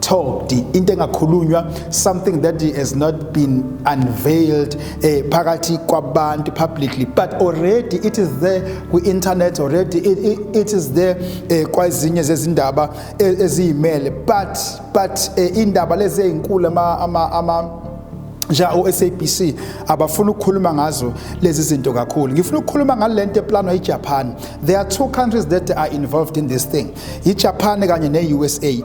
talked into engakhulunywa something that has not been unveiled eh, phakathi kwabantu publicly but already it is there kwi-internet already it, it, it is there eh, kwazinye zezindaba eh, eziyimele but but eh, indaba lezi ezinkulu ama, ama, ama nja oSABC abafuna ukukhuluma ngazo lezi zinto kakhulu ngifuna ukukhuluma ngalento eplanwa iJapan there are two countries that are involved in this thing iJapan kanye neUSA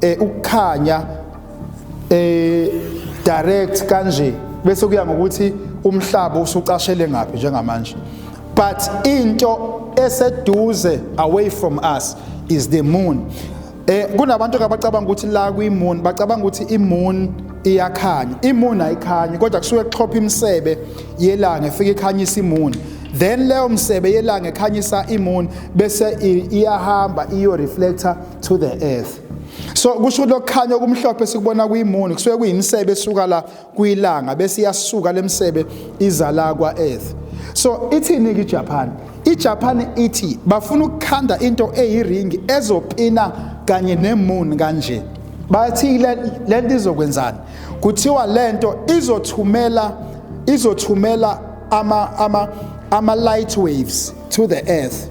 eh ukukhanya eh direct kanje bese kuya ngokuthi umhlaba usucashele ngaphi njengamanje but into eseduze away from us is the moon eh kunabantu abacabanga ukuthi la kwi moon bacabanga ukuthi i moon iyakhanya i moon ayikhanyi kodwa kusuke kuxhopha imisebe yelanga efike ikhanyisa i moon then leyo msebe yelanga ekhanyisa i moon bese iyahamba iyo reflector to the earth so kusho lokukhanya okumhlophe sikubona kuyimuni kusuke kuyimisebe esuka la kuyilanga bese iyasuka lemsebe iza la kwa earth so ithini ke Japan iJapan ithi bafuna ukukhanda into eyiringi ezopina kanye nemoon kanje bathi lento izokwenzani kuthiwa lento izothumela izothumela ama ama ama light waves to the earth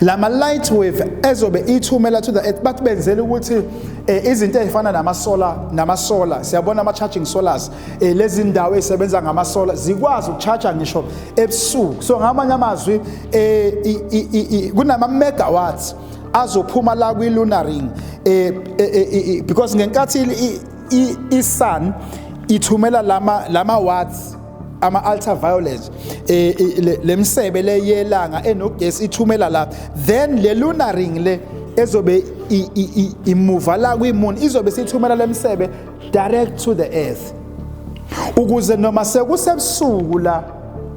lama light wave ezobe ithumela to the earth bathi benzela ukuthi eh, izinto ezifana nama solar nama solar siyabona ama charging solars eh, lezi ndawo ezisebenza ngama solar zikwazi ukucharge ngisho ebusuku so ngamanye amazwi eh, kunama megawatts azophuma la kwi lunar ring eh, eh, eh, eh because ngenkathi i sun ithumela lama lama watts ama-ultraviolet eh, eh, le misebe le yelanga enogesi ithumela la then le lunar ring le ezobe imuva la kwimun izobe sithumela le misebe direct to the earth ukuze noma sekusebusuku la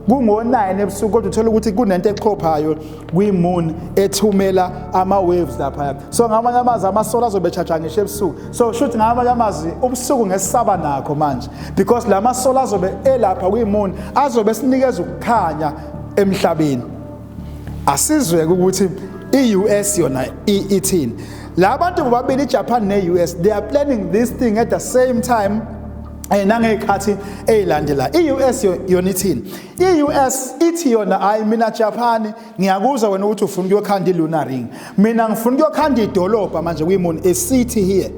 kungo-9 ebusuku kodwa uthole ukuthi kunento echophayo kwi-moon ethumela ama-waves laphaya so ngamanye amazwi amasolo azobe chaja ngisho ebusuku so shuthi ngamanye amazwi ubusuku ngesisaba nakho manje because la masolo azobe elapha kwi-moon azobe sinikeza ukukhanya emhlabeni asizweke ukuthi i-us yona ithini la bantu bobabili ijapan ne-us they are planning this thing at the same time um nangey'khathi ey'landela i-us yona ithini I-US ithi yona hayi mina Japan ngiyakuzwa wena ukuthi ufuna ukuyokhanda i-lunar ring mina ngifuna ukuyokhanda idolobha manje kuyimuni a city here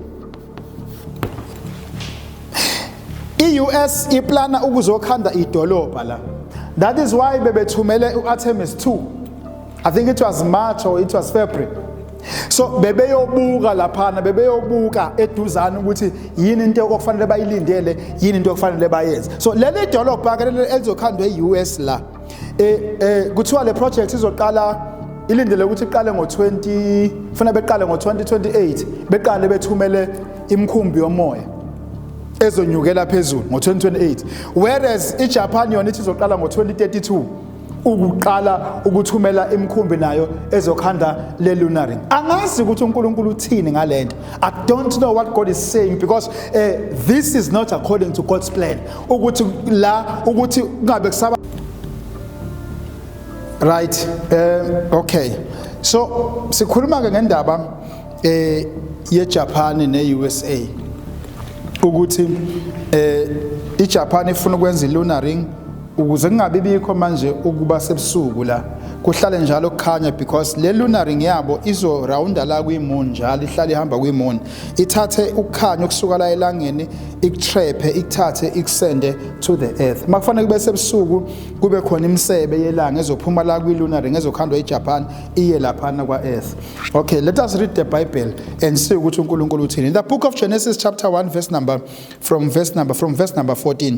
i-US iplana ukuzokhanda idolobha la that is why bebethumele u-Artemis 2 I think it was March or it was February so bebeyobuka laphana bebeyobuka eduzane ukuthi yini into okufanele bayilindele yini into okufanele bayenze so leli dolobha ke elizokhandwa e-US la eh eh kuthiwa le project izoqala ilindele ukuthi iqale ngo-20 funa beqale ngo-2028 beqale bethumele imkhumbi yomoya ezonyukela phezulu ngo-2028 whereas ijapan yona ithi izoqala ngo-2032 ukuqala ukuthumela imikhumbi nayo ezokhanda le lunar ring angazi ukuthi uNkulunkulu uthini ngalento i don't know what god is saying because uh, this is not according to god's plan ukuthi la ukuthi kungabe kusaba right um okay so sikhuluma ke ngendaba eh yeJapan neUSA ukuthi eh iJapan ifuna ukwenza ilunar ring ukuze kungabi bikho manje ukuba sebusuku la kuhlale njalo kukhanya because le lunar ring yabo izo rounda la kwi-moon njalo ihlale ihamba kwi-moon ithathe ukukhanya okusuka la elangeni ikutrephe ikuthathe ikusende to the earth uma kufanele kube sebusuku kube khona imisebe yelanga ezophuma la kwi-lunar ring ezokhandwa ejapan iye laphana kwa-earth okay let us read the bible and see ukuthi unkulunkulu uthini in the book of genesis chapter 1 verse number from verse number from verse number 14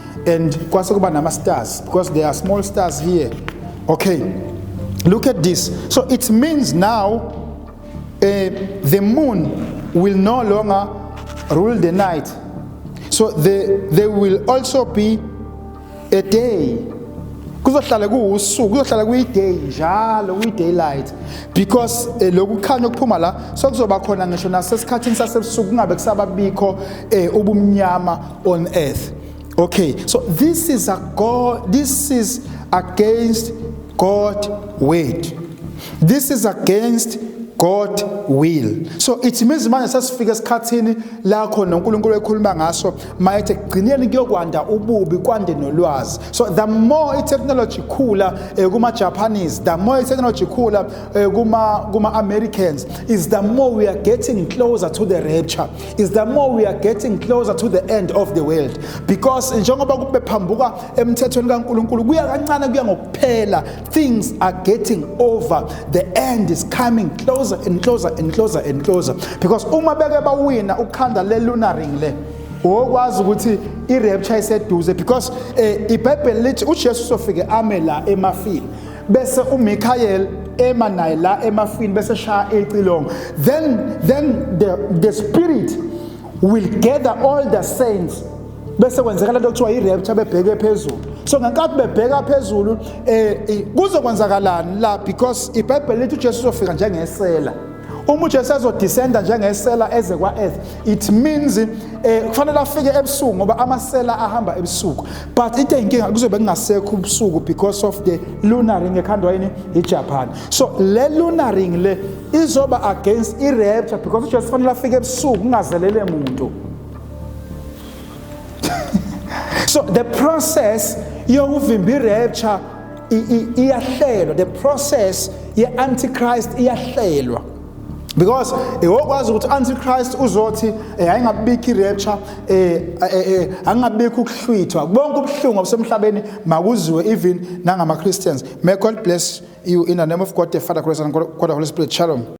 and kwase kuba nama stars because there are small stars here okay look at this so it means now uh, the moon will no longer rule the night so the, there will also be a day kuzohlala kuwusuku kuzohlala kuyiday njalo kuyi-daylight because um eh, loku kukhanya okuphuma la sokuzoba khona ngisho nasesikhathini sasebusuku kungabe kusababikho um eh, ubumnyama on earth. Okay, so this is a God, this is against God word. This is against God will. So it means manje sasifika esikhathini la khona uNkulunkulu ekhuluma ngaso mayethe gcineni kuyokwanda ububi kwande nolwazi. So the more itechnology khula eh, kuma Japanese, the more itechnology khula eh, kuma kuma Americans is the more we are getting closer to the rapture. is the more we are getting closer to the end of the world because njengoba kube phambuka emthethweni kaNkuluNkulu kuya kancane kuya ngokuphela things are getting over the end is coming closer and closer and closer and closer because uma beke bawina ukhanda le lunar ring le wokwazi ukuthi i-rapture iseduze because um ibhayibheli lithi ujesu sofike ame la emafini bese uMichael ema naye la emafini bese shaya icilongo then then the, the spirit will gather all the saints bese kwenzeka lento kuthiwa i-rapture bebheke phezulu so ngenkathi bebheka phezulu um kuzokwenzakalani la because ibhayibheli lithi ujesu uzofika njengesela uma uJesu ezodescenda njengesela eze kwa-earth it means um kufanele afike ebusuku ngoba amasela ahamba ebusuku but into eyinkinga kuzobe kungasekho ubusuku because of the lunaring ekhandwa yini ijapan so le lunaring le izoba against i-rapture because ujesu kufanele afike ebusuku kungazelele muntu so the process yokuvimba i-rapture iyahlelwa the process ye-antichrist iyahlelwa because iwokwazi eh, ukuthi antichrist uzothi eh, ayingabikho irapture eh, eh angabikho ukuhlwithwa bonke ubuhlungu obusemhlabeni makuziwe even nangama Christians may God bless you in the name of God the Father Christ and God the Holy Spirit shalom